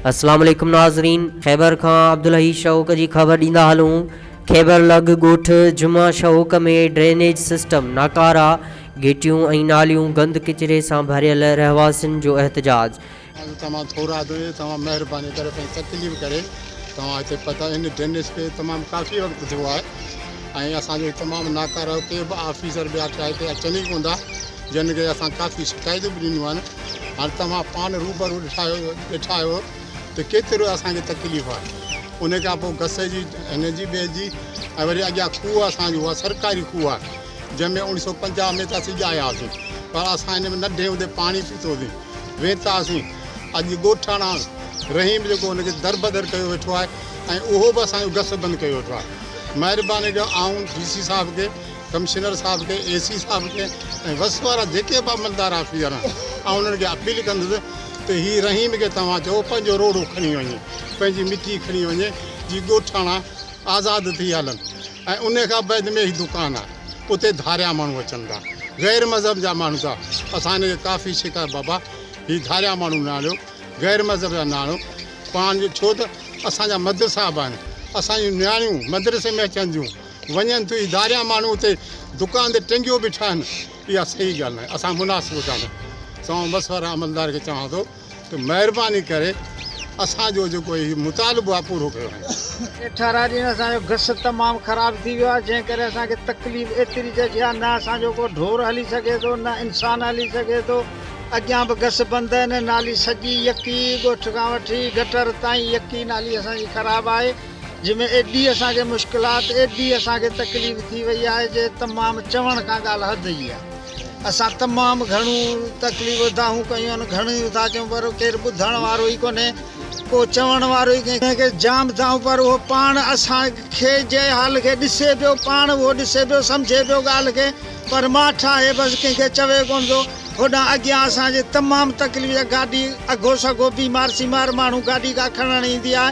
اسلام عليڪم ناظرين خيبر کان عبدالحئي شهوڪ جي خبر ڏيندا هلون خيبر لڳ ڳوٺ جمعه شهوڪ ۾ ڊرينيج سسٽم ناڪارا گهٽيون ۽ ناليون گند ڪچري سان ڀريل رهواسين جو احتجاج. اڄ توهان ٿورا ته توهان مهرباني ڪري پنهنجي تڪليف ڪري توهان هتي پتا ان ڊرينيج کي تمام ڪافي وقت ٿيو آهي ۽ اسان جو تمام ناڪارو ڪي به آفيسر ٻيا ڇا هتي اچن ئي ڪوندا جن کي اسان ڪافي شڪايتون به ڏنيون آهن هاڻ توهان پاڻ روبرو ڏٺا آهيو ته ڪيترو اسان کي تڪليف آهي ان کان پوء گسي جي هن جي ٻئي جي ۽ وري اڳيان کوهه اسان جو اها سرڪاري کوهه آهي جنهن ۾ اوڻي سو پنجاهه ۾ ته اسين ڄايا هئاسين پر اسان هن ۾ ننڍي هوندي پاڻي پيتو سين ويتا سين اڄ ڳوٺاڻا رحيم جيڪو ان کي دربدر ڪيو ويٺو آهي ۽ اهو به اسان جو گس بند ڪيو ويٺو آهي مهرباني ڪيو آئون ڊي سي صاحب کي ڪمشنر صاحب کي، اي سي صاحب کي ۽ وس وارا جيڪي به عملدار آفيسر آهن، آئون انهن کي اپيل ڪندس ته هي رحيم کي توهان چئو پنهنجو روڙو کڻي وڃي، پنهنجي مٽي کڻي وڃي جي ڳوٺاڻا آزاد ٿي هلن ۽ انهي کان بعد ۾ هي دڪان آهي اتي ڌاريا ماڻهو اچن ٿا، غير مذهب جا ماڻهو ٿا اسان هن کي ڪافي شڪايت بابا هي ڌاريا ماڻهو نه آڻيو، غير مذهب جا نه آڻيو پاڻ جو ڇو ته اسان جا مدرسا به آهن، اسان جون نياڻيون مدرسي ۾ اچن ٿيون. وڃن ٿيون، ڌاريان ماڻهو اتي دڪان تي ٽنگيو به ٺاهن، اها صحيح ڳالهه ناهي، اسان مناسب ڪانه سوان مشورا عملدار کي چوان ٿو ته مهرباني ڪري اسان جو جيڪو هي مطالبو آهي پورو ڪيو وڃي. اٺارهن ڏينهن اسان جو گس تمام خراب ٿي ويو آهي جنهن ڪري اسان کي تڪليف ايتري ته جا نه اسان جو ڪو ڍور هلي سگهي ٿو نه انسان هلي سگهي ٿو، اڳيان به گس بند آهن نالي سڄي يڪي ڳوٺ کان وٺي گٽر تائين يڪي نالي اسان جي خراب آهي، جنهن ۾ ايڏي اسان کي مشڪلات، ايڏي اسان کي تڪليف ٿي وئي آهي جي تمام چوڻ کان ڳالهه حد جي آهي. اسان تمام گهڻيون تڪليفون دانهون ڪيون آهن، گهڻيون ٿا چئون پر ڪير ٻڌڻ وارو ئي ڪونهي، ڪو چوڻ وارو ئي ڪنهن کي جام دانهون پر اهو پاڻ اسان کي جنهن حال کي ڏسي پيو، پاڻ اهو ڏسي پيو، سمجهي پيو ڳالهه کي پر مان ٺاهي بس ڪنهن کي چوي ڪونه ٿو. هوڏانهن اڳيان اسان جي تمام تڪليف جا گاڏي اگهو سگهو بيمار سيمار ماڻهو گاڏي ڪا کڻڻ ايندي آهي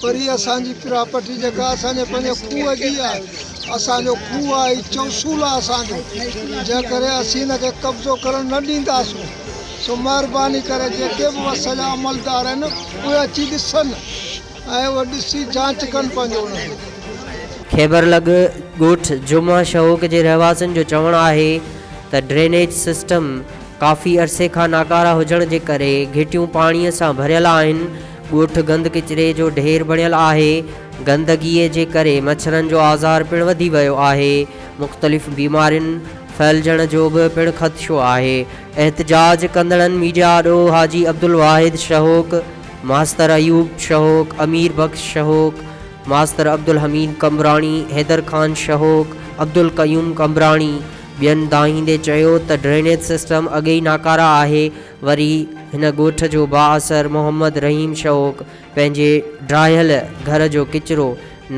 پر هي اسان جي پراپرٽي جيڪا اسان جي پنهنجي کوهه جي آهي، اسان جو کوهه آهي، هي چوسول آهي اسان جو، جنهن ڪري اسين هن کي قبضو ڪرڻ نه ڏينداسون، سو مهرباني ڪري جيڪي به وس جا عملدار آهن اهي اچي ڏسن ۽ اهي ڏسي جانچ ڪن پنهنجو ان کي. خيبر لڳ ڳوٺ جمعه شهوڪ جي رهواسين جو چوڻ آهي ته ڊرينيج سسٽم ڪافي عرصي کان ناڪارا هجڻ جي ڪري گهٽيون پاڻي سان ڀريل آهن، ڳوٺ گند ڪچري جو ڍير بڻيل آهي، گندگيء جي ڪري مڇرن جو آزار پڻ وڌي ويو آهي، مختلف بيمارين ڦهلجڻ جو به پڻ خدشو آهي، احتجاج ڪندڙن ميڊيا آڏو حاجي عبدالواحد شهوڪ، ماستر ايوب شهوڪ، امير بخش شهوڪ، ماستر عبدالحميد قمبراڻي، حيدر خان شهوڪ، عبدالقيوم قمبراڻي ٻين دانهيندي چيو ته ڊرينيج سسٽم اڳي ئي ناڪاره آهي، وري هن ڳوٺ جو بااثر محمد رحيم شوق پنهنجي ڊاهيل گهر جو ڪچرو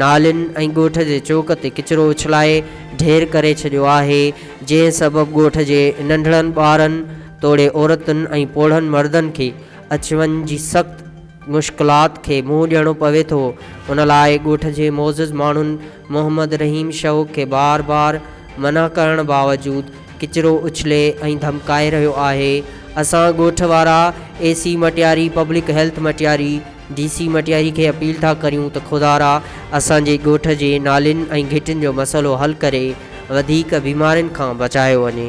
نالين ۽ ڳوٺ جي چوڪ تي ڪچرو اڇلائي ڍير ڪري ڇڏيو آهي، جنهن سبب ڳوٺ جي ننڍڙن ٻارن توڙي عورتن ۽ پوڙهن مردن کي اچ وڃ جي سخت مشڪلات کي منهن ڏيڻو پوي ٿو، ان لاء ڳوٺ جي معزز ماڻهن محمد رحيم شوق کي بار بار منع ڪرڻ باوجود ڪچرو اڇلي ۽ ڌمڪائي رهيو آهي، اسان ڳوٺ وارا A C Matiari, public health Matiari, D C Matiari کي اپيل ٿا ڪريون ته خدارا اسان جي ڳوٺ جي نالين ۽ گهٽين جو مسئلو حل ڪري وڌيڪ بيمارين کان بچايو وڃي.